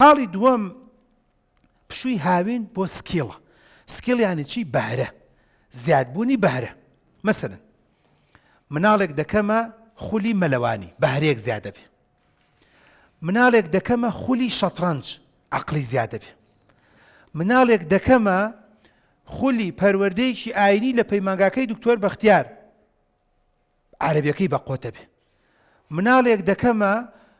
خاڵی دووەم پشووی هاوین بۆ سکیڵە سکیڵ یانی چی بەهرە زیادبوونی بەهرە مەسەن مناڵێک دەکەمە خولی مەلەوانی بەهرەیەک زیادە بێ مناڵێک دەکەمە خولی شەترەنج عقلی زیادە بێ مناڵێک دەکەمە خولی پەروەردەیەکی ئاینی لە پەیمانگاکەی دکتۆر بەختیار عەرەبیەکەی بە قۆتە بێ مناڵێک دەکەمە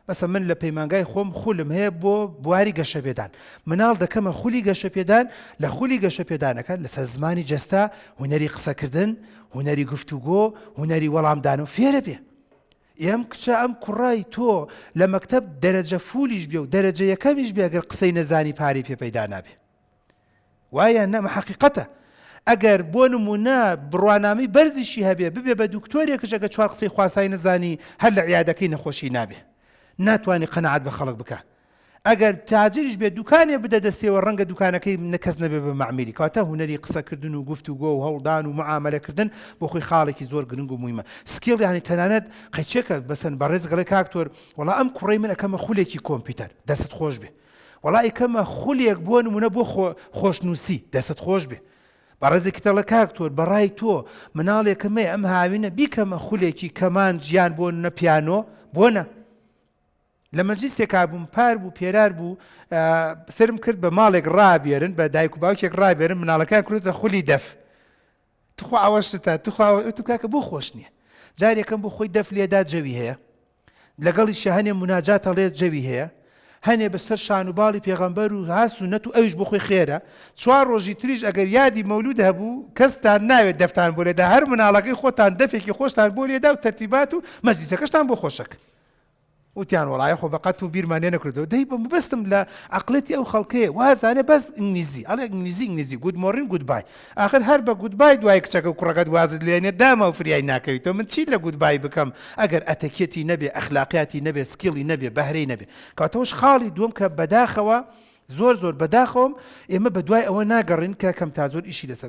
مەسە من لە پەیمانگای خۆم خولم هەیە بۆ بواری گەشەپێدان مناڵ دەکەمە خولی گەشەپێدان لە خولی گەشەپێدانەکە لەسەر زمانی جەستا هوەری قسەکردن هوەری گفتوگۆ هوەری وەڵامدان و فێرە بێ ئێم کچە ئەم کوڕای تۆ لە مەکتب دەرەجە فولیش بێ و دەرەجە یەکەمیش بێگەر قسەی نەزانی پارەی پێ پەیدا نابێ وایە نە مە حەقیقەتە ئەگەر بۆ نمونە بڕوانامەی بەرزیشی هەبێ ببێ بە دوکتۆرێکش ئەگە چوار قسەی خواسای نەزانی هەر لە عیادەکەی نەخۆشی نابێ ناتوانانی قەنەعات بە خەڵک بکە ئەگەر تاجریش بێ دوکانێ بدە دەستێەوە ڕەنگە دوکانەکەی نەکەس نەبێ بە معمیلی کاتە هوەری قسەکردن و گفت و گۆ و هەوڵدان و معاملەکردن بۆ خۆی خاڵێکی زۆر گرنگ و مویمە سکیڵ یانی تەنانەت قەچێکە بەسەن بەڕێز گەڵێ کاکتۆر وڵا ئەم کوڕی من ئەەکەمە خولێکی کۆمپیوتەر دەست خۆش بێ وەڵا ئیکەمە خولێک بۆ نمونە بۆ خۆ خۆش نوسی دەستت خۆش بێ بەڕێزێکی تەڵە کاک تۆر بەڕای تۆ مناڵێکە مەیە ئەم هاوینە بیکەمە خولێکی کەمانج یان بۆ نە پیانۆ بۆ نە لە مەجلیسێکا بووم پار بوو پێرار بوو سرم کرد بە ماڵێک ڕابێرن بە دایک و باوکێک ڕابێرن مناڵەکان کرێتە خولی دەف تخوا ئەوە شتە تخوا تو کاکە بۆ خۆش نییە جارێکم بۆ خۆی دەف لێدا جەوی هەیە لەگەڵیشیا هەنێ موناجات هەڵێ جەوی هەیە هەنێ بە سەر شان و باڵی پێغەمبەر و ها سونەت و ئەویش بۆ خۆی خێرە چوار ڕۆژی تریش ئەگەر یادی مەولود هەبوو کەستان ناوێت دەفتان بۆ لێدا هەر مناڵەکەی خۆتان دەفێکی خۆشتان بۆ لێدا و تەرتیبات و مەجلیسەکەشتان بۆ خۆشەک وتیان وڵای خۆ بەقەت و بیرمان لێ نەکردەوە دەی بە مبستم لە عقلەتی ئەو خەڵکەیە وازانێ بەس ئینگلیزی ئەڵێ ئینگلیزی ئینگلیزی گود مۆڕین گود بای ئاخر هەر بە گودبای دوای کچەکە و کوڕەکەت وازت لێنێت داما و فریای ناکەویتەوە من چی لە گودبای بکەم ئەگەر ئەتەکیەتی نەبێ ئەخلاقیاتی نەبێ سکیڵی نەبێ بەهرەی نەبێ کەواتەوەش خاڵی دووەم کە بەداخەوە زۆر زۆر بەداخەوەم ئێمە بەدوای ئەوە ناگەڕێین کە کەم تا زۆر ئیشی لەسەر بکەن.